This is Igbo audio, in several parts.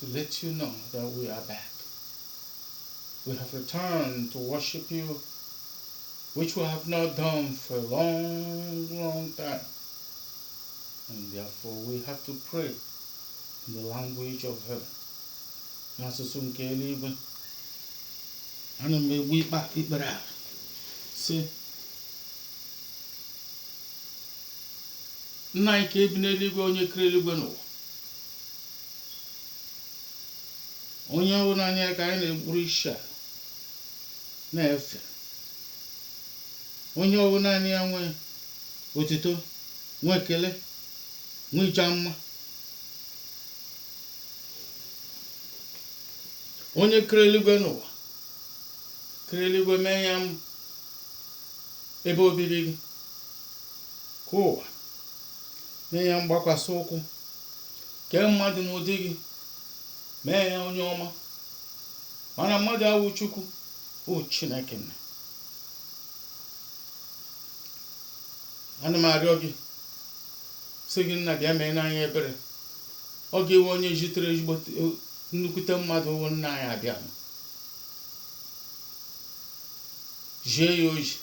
to let you know that we are back. We have returned to worship you, which we have not done for a long, long time. And therefore, we have to pray in the language of heaven. N'asụsụ nke eluigwe, ana m egbu ikpe ikpere a sị nna anyị nke bi n'eluigwe onye kere eluigwe na ụwa onye ọ wụ naanị ya ka anyị na-egburu isi ala na-efe onye ọ wụ naanị ya nwe otito nwe ekele nwe ịja mma onye kere eluigwe na ụwa kere eluigwe mee ya ebe obibi gị kee ụwa mee ya mgbakwasị ụkwụ kee mmadụ n'ụdị gị mee ya onye ọma mana mmadụ awụ Chukwu o Chineke nna ana m arịọ gị sị gị nna bịa meere anyị ebere ọ gị wụ onye jitere ezigbo nnukwute mmadụ ọ wụ nna anyị Abịam jie ya oji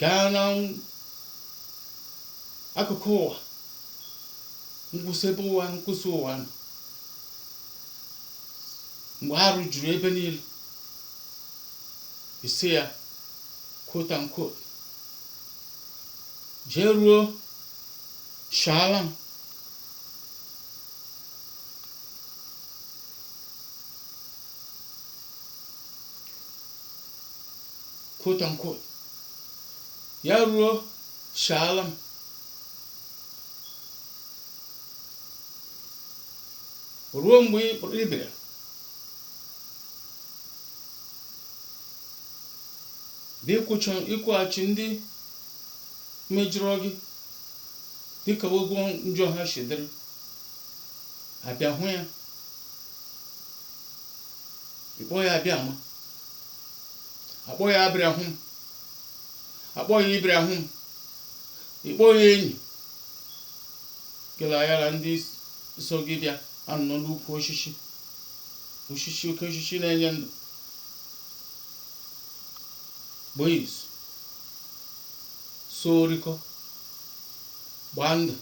gaa n'akụkụ ụwa nkwụsị ebe ụwa nkwụsị ụwa nọ mgbe arụ juru ebe niile ị sị ya quote and quote jee ruo shaala m quote unquote ya ruo shaala m ruo mgbe ị bịara dị ịkwụcha ịkwụghachi ndị mejọrọ gị dịka ụgwọ njọ ha si dịrị a bịa hụ ya ị kpọọ ya Abịama a kpọọ ya Abraham a kpọọ ya Ibrahim ị kpọọ ya enyi gị na ya na ndị so gị bịa anọ n'ukwu osisi osisi oke osisi na-enye ndụ boys so orikọ gbaa ndụ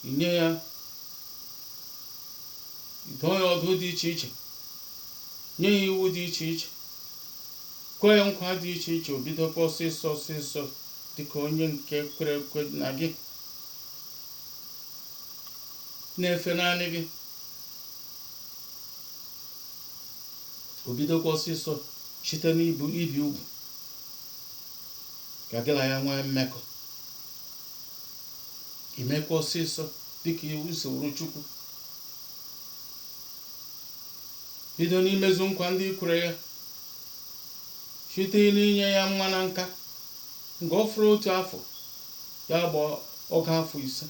i nye ya dụọ ya ọdụ dị iche iche nye ya iwu dị iche iche, kwe ya nkwa dị iche iche, o bidokwa ọsịsọ ọsịsọ dịka onye nke kwere ekwe na gị na-efe naanị gị o bidokwa ọsịsọ site n'ibi ugwu ka gị na ya nwee mmekọ i mekwa ọsịsọ dịka iwu soro chukwu bido n'imezu nkwa ndị i kwere ya site n'inye ya nwa na nka nke ọ fọrọ otu afọ ya gbaa ọgụ afọ ise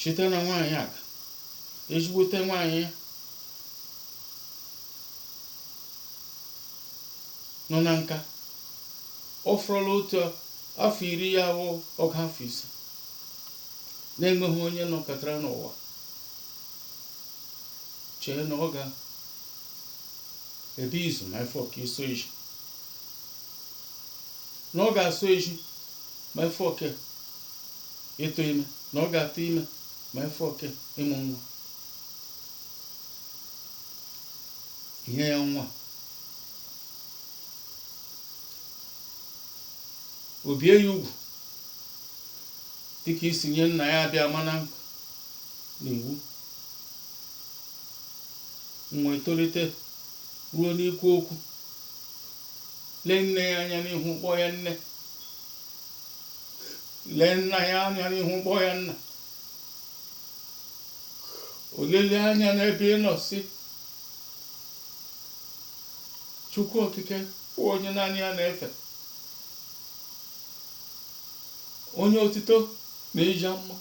site na nwaanyị aga ezigbote nwaanyị ya nọ na nka ọ fọrọla otu afọ iri ya bụ ọgụ afọ ise na-enweghị onye nọkatara n'ụwa chee na ọ ga ebe izu ma ya fọkwa ịsọ ezi na ọ ga-asọ ezi ma ya fọkwa ịtụ ime na ọ ga-atụ ime ma ya fọkwa ịmụ nwa i nye ya nwa o bie ya ugwu dịka i si nye nna ya Abịama n'iwu nwa etolite ruo n'ikwu okwu lee nne ya anya n'ihu kpọọ ya nne lee nna ya anya n'ihu kpọọ ya nna o lele anya n'ebe ị nọ sị chukwu okike bụ onye naanị ya na-efe onye otito na ịja mma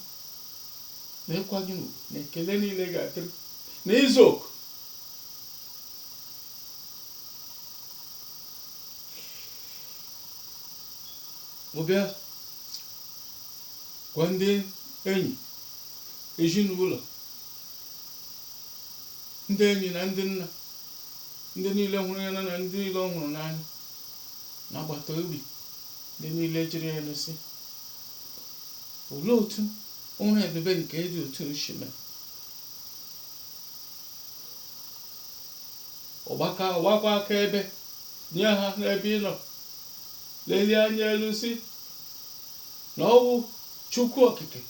na ịkwanye ugwu na ekele niile ga-adịrị na izu oke ọ bịa gwa ndị enyi ezinụlọ ndị enyi na ndị nna ndị niile hụrụ ya na ndị niile ọ hụrụ n'anya na agbata obi Ndị niile jụrụ ya nụ sị, Olee otu ọrụ ebube nke dị otu a shi mee? Ọ bịakwa gbaa akaebe nye ha n'ebe ị nọ lelie anya elu sị na ọ wụ Chukwu Okike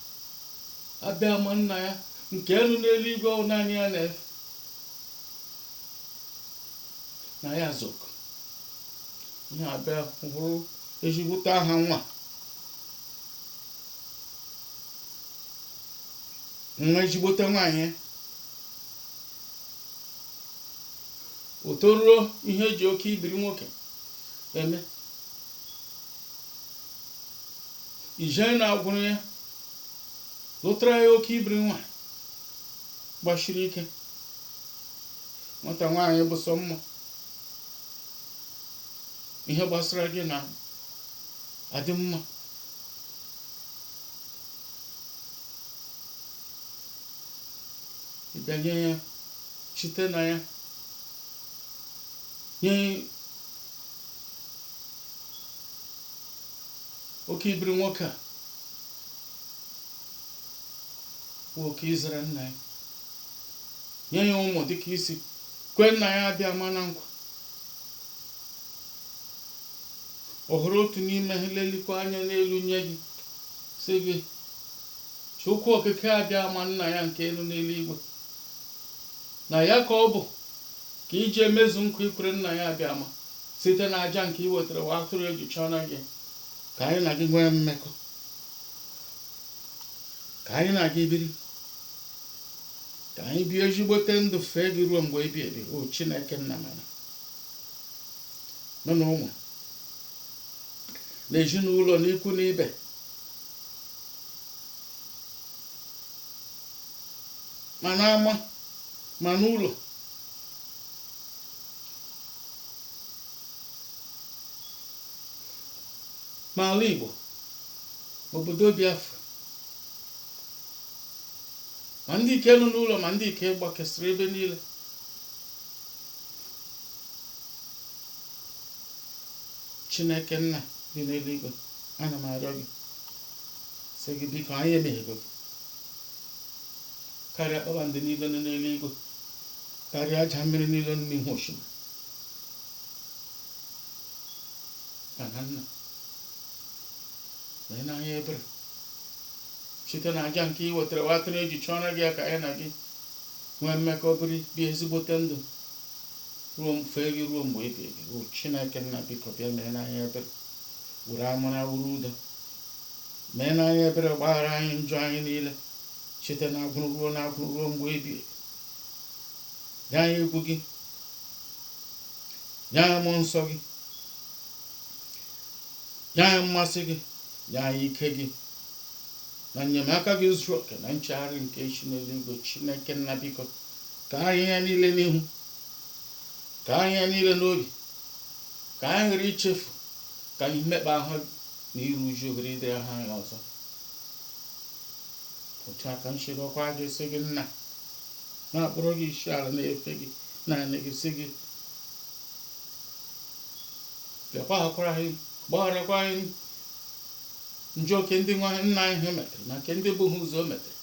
Abịama nna ya nke nọ n'eluigwe ọ wụ naanị ya na-efe na ya zok ihe abịa bụrụ ezigbote aha nwa nwa ezigbote nwaanyị o toruo ihe eji oke ibiri nwoke eme i jee na agwụrụ ya lụtara ya oke ibiri nwa gbasiri ike nwata nwaanyị bụ sọ mma ihe gbasara gị na-adị mma ị bịa nye ya site na ya nye oke ibiri nwoke a bụ oke izere nna ya nye ya ụmụ dịka i si kwe nna ya abịama na nkwa ọ hụrụ otu n'ime ha lelikwa anya n'elu nye gị sị gị chukwu okike abịama nna ya nke nọ n'eluigwe na ya ka ọ bụ ka i ji emezu nkwa i kwere nna ya abịama site na aja nke i wetara nwa atụrụ eji chụọna gị ka anyị na gị nwee mmekọ ka anyị na gị biri ka anyị bie ezigbote ndụ fee gị ruo mgbe ebi ebi o chineke nna mana nọ na ụmụ na ezinụlọ na ikwu na ibe ma n'ama ma n'ụlọ ma ala igbo ma obodo biafra ma ndị nke nọ n'ụlọ ma ndị nke gbakesịrị ebe niile chineke nna dị n'eluigwe ana m arịọ gị sị gị biko anyị emehiego gị karịa kpakpando niile nọ n'eluigwe karịa aja mmiri niile nọ n'ihu osimiri mana nna meena anyị ebere site na aja nke i wetara nwa atụrụ eji chụọra gị ya ka anyị na gị nwee mmekọ biri bie ezigbote ndụ ruo m- fee gị ruo mgbe ebi ebi o chineke nna biko bịa meena anyị ebere were amara were udo meena anyị ebere gbaghara anyị njọ anyị niile site na agwụrụ ruo na agwụrụ ruo mgbe ebi ebi nye anyị egwu gị nye anyị mmụọ nsọ gị nye anyị mmasị gị nye anyị ike gị na enyemaka gị zuru oke na nchegharị nke si n'eluigwe chineke nna biko ka anyị ihe niile n'ihu ka anyị ihe niile n'obi ka anyị ghara ichefu ka anyị mmekpa ahụ na iru uju ghara ịdị ahụ anyị ọzọ otu a ka anyị si arịọkwa gị sị gị nna na-akpọrọ gị isi ala na-efe gị naanị gị sị gị bịa gbaghakwara anyị gbagharakwa anyị njọ nke ndị nna nna anyị ha metere na nke ndị bu ha ụzọ metere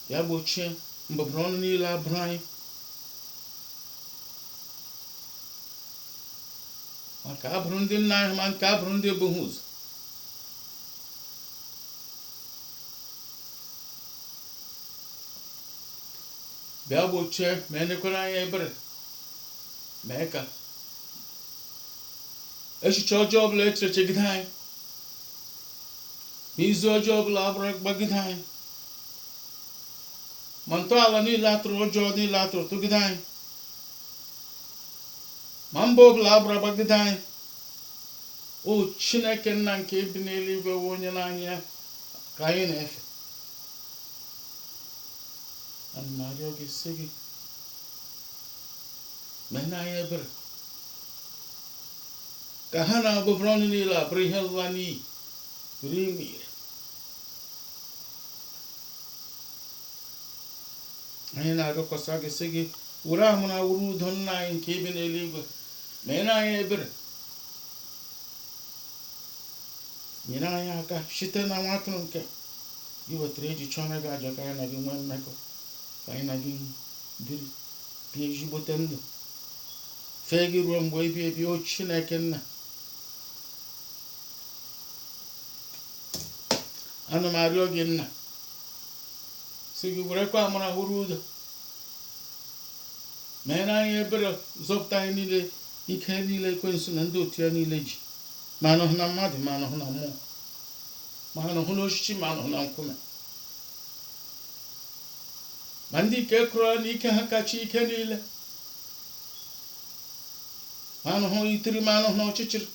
bịa gbochie ọbụbụ ọnụ niile a bụrụ anyị ma nke a bụrụ ndị nna anyị ma nke a bụrụ ndị bu ha ụzọ bịa gbochie meenụkwara anyị ebere mee ka echiche ọjọọ ọbụla e chere chegide anyị na izu ọjọọ ọbụla a gbara gbagide anyị ma ntọala niile a tọrọ ọjọọ niile a tọrọ tọgide anyị ma mba ọbụla a bara bagide anyị o chineke nna nke bi n'eluigwe wụ onye naanị ya ka anyị na-efe ana m arịọ gị sị gị Meenụ anyị ebere. Ka ha na ọbụbụ ọnụ niile a bụrụ ihe nla n'iyi, ghara ime ire. Anyị na-arịọkwasị gị sị gị were amara were udo nna anyị nke bi n'eluigwe meere anyị ebere nyere anyị aka site na nwa atụrụ nke i wetara iji chụọra gị aja ka anyị na gị nwee mmekọ ka anyị na gị biri n'ezigbote ndụ fee gị ruo mgbe ebi ebi o chineke nna ana m arịọ gị nna sị gị werekwa amara were udo meenụ anyị ebere zọpụta anyị niile ike niile ekwensu na ndị otu ya niile ji ma anọhụ na mmadụ ma anọhụ na mmụọ ma anọhụ n'osisi ma anọhụ na nkume ma ndị nke kwurula na ike ha kacha ike niile ma anụhụ itiri ma anụhụ na ọchịchịrị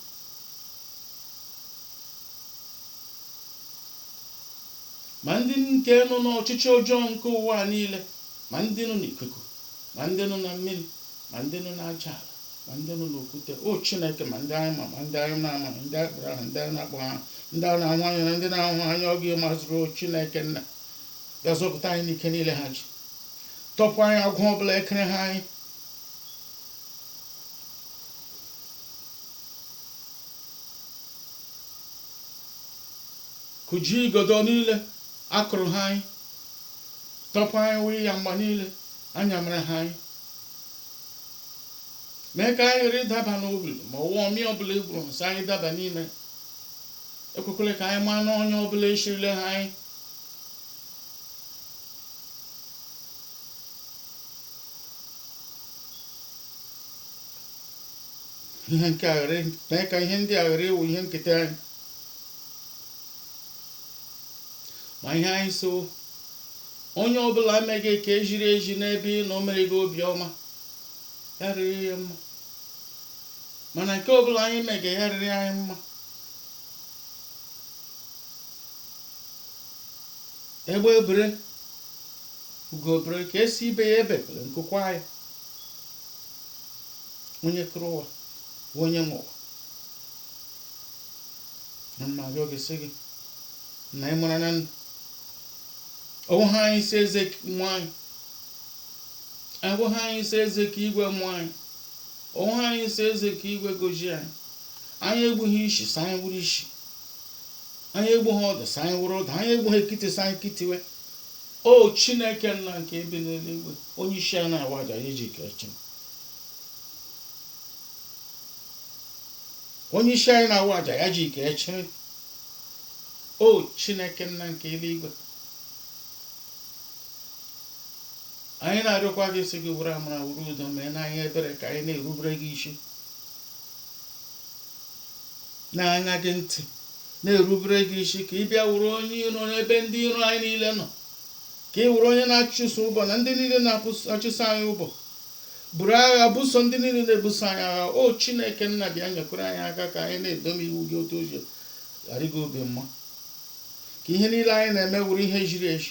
ma ndị nke nọ n'ọchịchị ọjọọ nke ụwa a niile ma ndị nọ n'ikuku ma ndị nọ na mmiri ma ndị nọ n'aja ala ma ndị nọ n'okwute o chineke ma ndị anyị ma ma ndị anyị na-amaghị ma ndị anyị kpọrọ aha ndị anyị na-akpọghị aha ndị anyị na-ahụ anya na ndị na-ahụghị anya ọ gị mazuru o chineke nna bịa zọpụta anyị n'ike niile ha ji tọpụ anyị agbụ ọbụla ekere ha anyị kụjie igodo niile akụrụ ha anyị tọpụ anyị iyagba niile a yara ha anyị mee ka anyị ghara ịdaba n'obi ma ọ wụ omi ọbụla egwuru sị anyị daba n'ime ekwekwele ka anyị maa n'ọnya ọbụla eshirila ha anyị ihe nke aghara mee ka ihe ndị a ghara ịwụ ihe nketa anyị ma ihe anyị so onye ọbụla emeghị ka ejiri eji n'ebe ị nọ mere gị obiọma ya rịrị ya mma mana nke ọbụla anyị mege ya rịrị anyị mma egbe bere ugo bere nke sị ibe ya ebekwele nku kwaa ya onye kere ụwa bụ onye nwe ụwa ana m arịọ gị sị gị na ị mara na ndụ ọ wụ ha anyị si eze ka mụ anyị ọ wụ ha anyị si eze ka igwe mụ anyị ọ wụ ha anyị si eze ka igwe goji anyị anyị egbughị isi sị anyị buru isi anyị egbu ha ọdụ sị anyị buru ọdụ anyị egbu ha ekiti sị anyị kitiwe o chineke nna nke bi n'eluigwe onye isi a na-awa aja ya iji kee chi m onye isi anyị na-awa aja ya ji ike echiri o chineke nna nke eluigwe anyị na-arịọkwa gị sị gị were amara were udo meere anyị ebere ka anyị na-erubere gị isi na-aṅa gị ntị, na-erubere gị isi, ka ị bịa wụrụ onye iro n'ebe ndị iro anyị niile nọ, ka ị wụrụ onye na-achụso ụbọ na ndị niile na-achụso anyị ụbọ, buru agha buso ndị niile na-ebuso anyị agha. O Chineke nna, bịa nyekwara anyị aka ka anyị na-edobe iwu gị otu o ji adị gị obi mma, ka ihe niile anyị na-eme wụrụ ihe ziri ezi,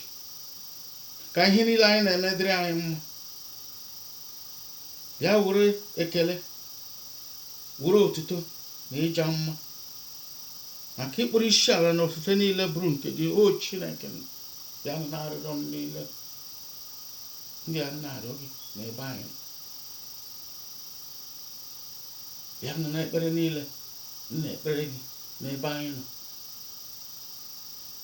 ka ihe niile anyị na-eme dịrị anyị mma. Bịa were ekele Were otuto na ịja mma ma ka ịkpọrọ isi ala na ofufe niile bụrụ nke gị o Chineke m bịa nụ n'arịrịọ m niile ndị a na-arịọ gị n'ebe anyị nọ. bịa nụ n'ekpere niile m na-ekpere gị n'ebe anyị nọ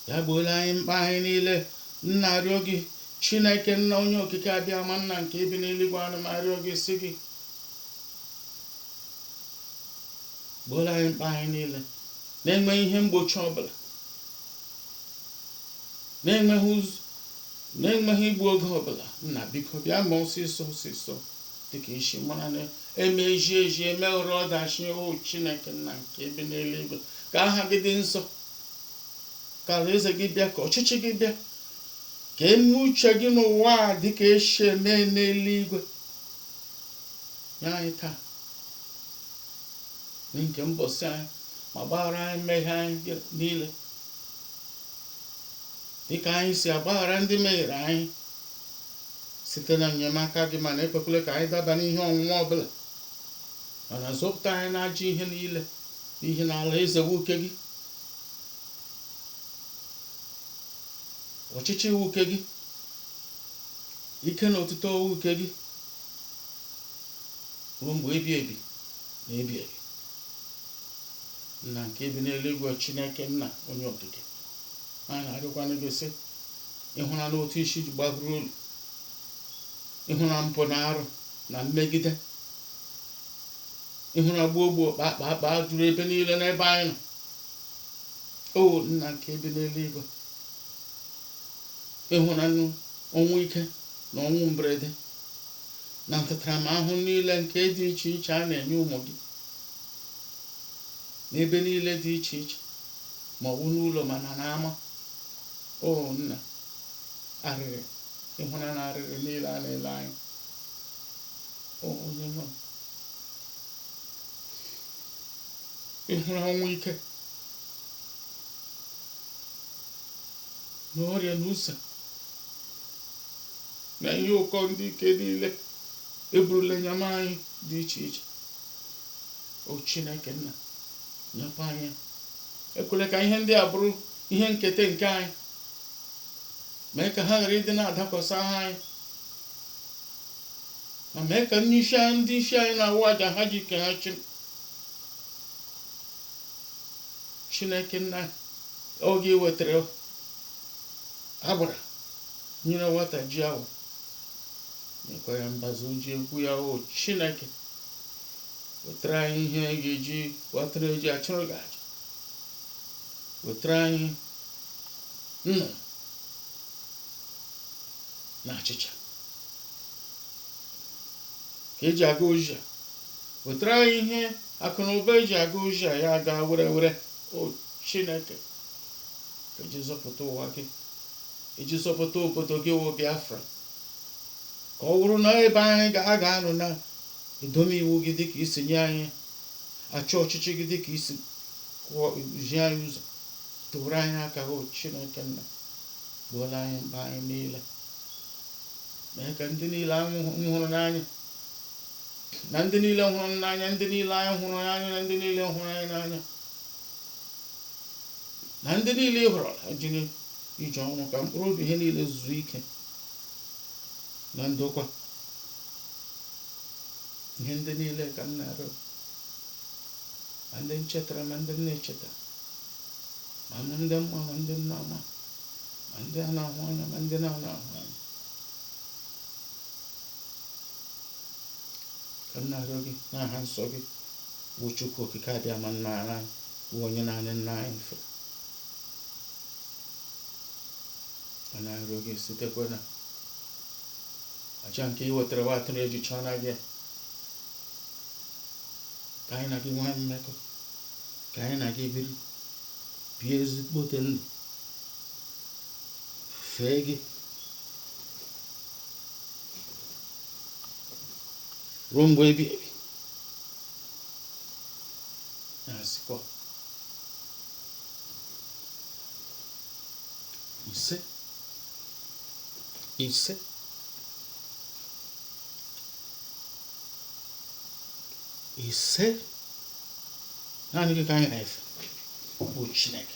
bịa gbooro anyị mkpa anyị niile m na-arịọ gị Chineke nna onye okike abịama nna nke bi n'eluigwe ana m arịọ gị si gị gboro anyị mkpa anyị niile na-enweghị mgbochi ọbụla na-enweghị ụzọ na-enweghị igbu oge ọbụla nna biko bịa ma ọsịsọ ọsịsọ dịka i si mara na eme eji eji emeghara ọdachi o chineke nna nke bi n'eluigwe ka aha gị dị nsọ ka alaeze gị bịa ka ọchịchị gị bịa ka eme uche gị n'ụwa a dịka esi eme n'eluigwe nye anyị taa nri nke mbọsị anyị ma gbaghara anyị mmehie anyị niile dịka anyị si agbaghara ndị mehiere anyị site na enyemaka gị mana ekwekwele ka anyị daba n'ihe ọnwụnwa ọbụla mana zọpụta anyị n'ajọ ihe niile n'ihi na alaeze wụ nke gị ọchịchị wụ nke gị Ike na otuto wụ nke gị ruo mgbe ebi ebi na ebi ebi. Nna nke bi n'eluigwe Chineke nna onye okike m na-arịọkwanụ gị sị ị hụranụ otu isi ji gbaburu olu ị hụra mpụ na arụ na mmegide ị hụra gbuo gbuo kpakpa akpa juru ebe niile n'ebe anyị nọ o nna nke bi n'eluigwe ị hụnanụ ọnwụ ike na ọnwụ mberede na ntaramahụhụ niile nke dị iche iche a na-enye ụmụ gị n'ebe niile dị iche iche ma ọ bụ n'ụlọ ma na n'ama o nna arịrị ị hụnanụ arịrị niile a na-ele anyị o onye nwe m ị hụrụ ọnwụ ike na ọrịa na ụsa na ihe ụkọ ndị ike niile eburula nyama anyị dị iche iche o chineke nna nyekwa anyị ekwele ka ihe ndị a bụrụ ihe nketa nke anyị mee ka ha ghara ịdị na-adakwasa anyị ma mee ka ndị isi anyị ndị isi anyị na-awụ aja ha ji ike ha chi chineke nna Ọ wụ gị wetara agbara nyere nwata ji awọ nyekwa ya mbazu ji egwu ya o Chineke wetara anyị ihe anyị ga-eji wetara eji achụrụ gị aja wetara anyị nnu na achịcha ka eji aga oji a wetara anyị ihe akụ na ụba eji aga oji a ya aga were were o chineke iji zọpụta ụwa gị iji zọpụta obodo gị wụ biafra ka ọ wụrụ na ebe anyị ga a ga-anọ na-edobe iwu gị dịka i si nye anyị achọ ọchịchị gị dịka i si kwuo zi anyị ụzọ tụọrọ anyị aka o chineke nna gbooro anyị mkpa anyị niile mee ka ndị niile anyị hụ- hụrụ n'anya na ndị niile hụrụ m n'anya ndị niile anyị hụrụ n'anya na ndị niile hụrụ anyị n'anya na ndị niile ị hụrụ ha jiri ije ọnwụ ka mkpụrụ obi ha niile zuo ike na ndokwa ihe ndị niile ka m na-arịọ ma ndị m chetara ma ndị m na-echeta ma ndị m ma ma ndị m na-ama ma ndị a na-ahụ anya ma ndị na-ana ahụ anya ka m na-arịọ gị n'aha nsọ gị bụ Chukwu okike abịama nna ara anyị bụ onye naanị ya anyị na-efe a na-arịọ gị sitekwa na aja nke e wetara nwa atụrụ ejucha na gị ka anyị na gị nwee mmekọ ka anyị na gị biri bie ezigbote ndụ fee gị ruo mgbe ebighị ebi na-asịkwa ise ise ise naanị gị ka anyị na-efe bụ Chineke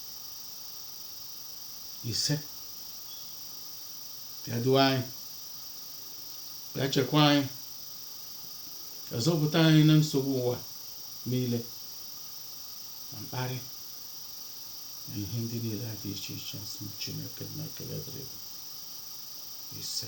ise bịa duo anyị bịa chekwa anyị bịa zọpụta anyị na nsogbu ụwa niile na mkparị na ihe ndị niile a dị iche iche ọsọ chineke nna ekele dịrị gị. ise